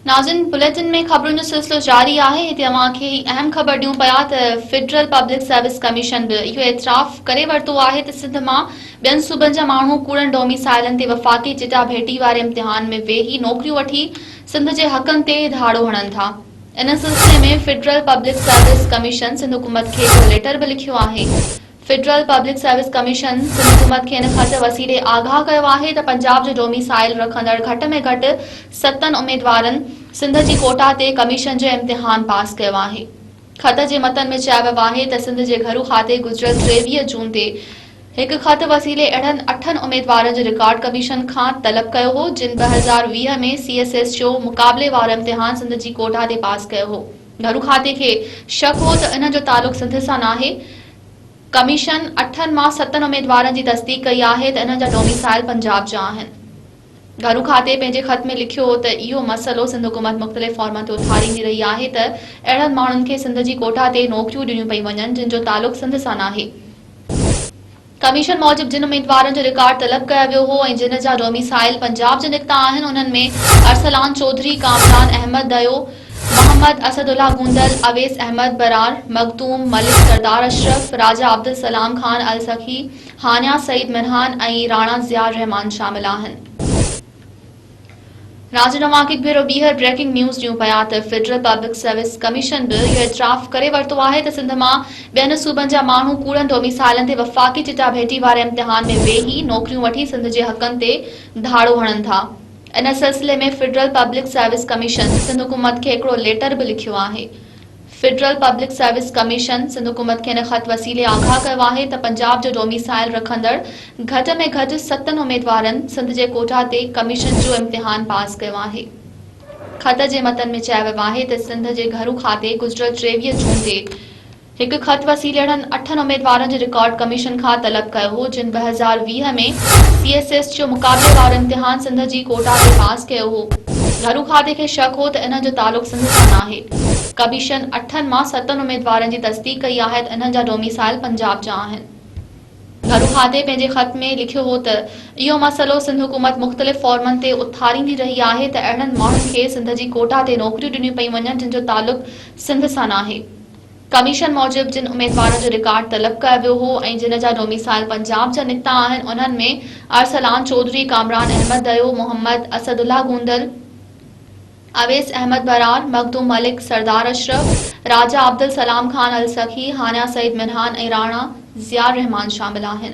ناظرين بليٽن ۾ خبرن جو سلسلو جاري آهي هتي اوهان کي هي اهم خبر ڏيون پيا ته فيڊرل پبلڪ سروس ڪميشن به اهو اعتراف ڪري ورتو آهي ته سنڌ مان ٻين صوبن جا ماڻهو ڪوڙن ڊوميسائلن تي وفاقي چٽاڀيٽي واري امتحان ۾ ويهي نوڪريون وٺي سنڌ جي حقن تي ڌاڙو هڻن ٿا ان سلسلي ۾ federal public service commission Sindh حڪومت کي هڪڙو ليٽر به لکيو آهي federal public service commission Sindh حڪومت کي ان خط وسيلي آگاهه ڪيو آهي ته پنجاب جو ڊوميسائيل رکندڙ گهٽ ۾ گهٽ ستن اميدوارن سنڌ جي ڪوٽا تي ڪميشن جو امتحان پاس ڪيو آهي. خط جي متن ۾ چيو ويو آهي ته سنڌ جي گهرو کاتي گذريل ٽيويهه جون تي هڪ خط وسيلي اهڙن اٺن اميدوارن جو رڪارڊ ڪميشن کان طلب ڪيو هو جن ٻه هزار ويهه ۾ سي ايس ايس جو مقابلي وارو امتحان سنڌ جي ڪوٽا تي پاس ڪيو هو. گهرو کاتي کي شڪ هو ته انهن جو تعلق سنڌ سان ناهي. ڪميشن اٺن مان ستن اميدوارن جي تصديق ڪئي آهي ته انهن جا ڊوميسائل پنجاب جا آهن. گهرو کاتي پنهنجي خط ۾ لکيو ته اهو مسئلو سنڌ حڪومت مختلف فارمن تي اٿاريندي رهي آهي ته اهڙن ماڻهن کي سنڌ جي ڪوٽا تي نوڪريون ڏنيون پيون وڃن جن جو تعلق سنڌ سان ناهي. ڪميشن موجب جن اميدوارن جو رڪارڊ طلب ڪيو ويو هو ۽ جن جا ڊوميسائيل پنجاب جا نڪتا آهن انهن ۾ ارسلان چوڌري، ڪامران احمد دهيو، محمد اسد الله گوندل، اويس احمد برار، مخدوم ملڪ، سردار اشرف، راجا عبدالسلام خان السخي، هانيا سعيد منهان ۽ راڻا ضياء الرحمان شامل آهن. ناظرين اوهان کي هڪ ڀيرو ٻيهر بريڪنگ نيوز ڏيون پيا ته فيڊرل پبلڪ سروس ڪميشن به اهو اعتراف ڪري ورتو آهي ته سنڌ مان ٻين صوبن جا ماڻهو ڪوڙن ڊوميسائيلن تي وفاقي چٽاڀيٽي واري امتحان ۾ ويهي نوڪريون وٺي سنڌ جي حقن تي ڌاڙو هڻن ٿا ان سلسلي ۾ federal public service commission Sindh حڪومت کي هڪڙو ليٽر به لکيو آهي federal public service commission Sindh حڪومت کي ان خط وسيلي آگاهه ڪيو آهي ته پنجاب جو ڊوميسائيل رکندڙ گهٽ ۾ گهٽ ستن اميدوارن سنڌ جي ڪوٽا تي ڪميشن جو امتحان پاس ڪيو آهي. خط جي متن ۾ چيو ويو آهي ته سنڌ جي گهرو کاتي گذريل ٽيويهه جون تي هڪ خط وسيلي اهڙن اٺن اميدوارن جو رڪارڊ ڪميشن کان طلب ڪيو هو جن ٻه هزار ويهه ۾ سي ايس ايس جو مقابلي وارو امتحان سنڌ جي ڪوٽا تي پاس ڪيو هو. گهرو کاتي کي شڪ هو ته انهن جو تعلق سنڌ سان ناهي. ڪميشن اٺن مان ستن اميدوارن جي تصديق ڪئي آهي ته انهن جا ڊوميسائل پنجاب جا آهن. ڀروهادي پنهنجي خط ۾ لکيو هو ته اهو مسئلو سنڌ حڪومت مختلف فورمن تي اٿاريندي رهي آهي ته اهڙن ماڻهن کي سنڌ جي ڪوٽا تي نوڪريون ڏنيون پيون وڃن جن جو تعلق سنڌ سان ناهي. ڪميشن موجب جن اميدوارن جو رڪارڊ طلب ڪيو ويو هو ۽ جن جا ڊوميسائل پنجاب جا نڪتا آهن انهن ۾ ارسلان چوڌري، ڪامران احمد ديو، محمد اسد الله گوندل، اويس احمد برار، مخدوم ملڪ، سردار اشرف، راجا عبدالسلام خان السخي، هانيا سعيد منهان ۽ راڻا ضياء الرحمان شامل آهن.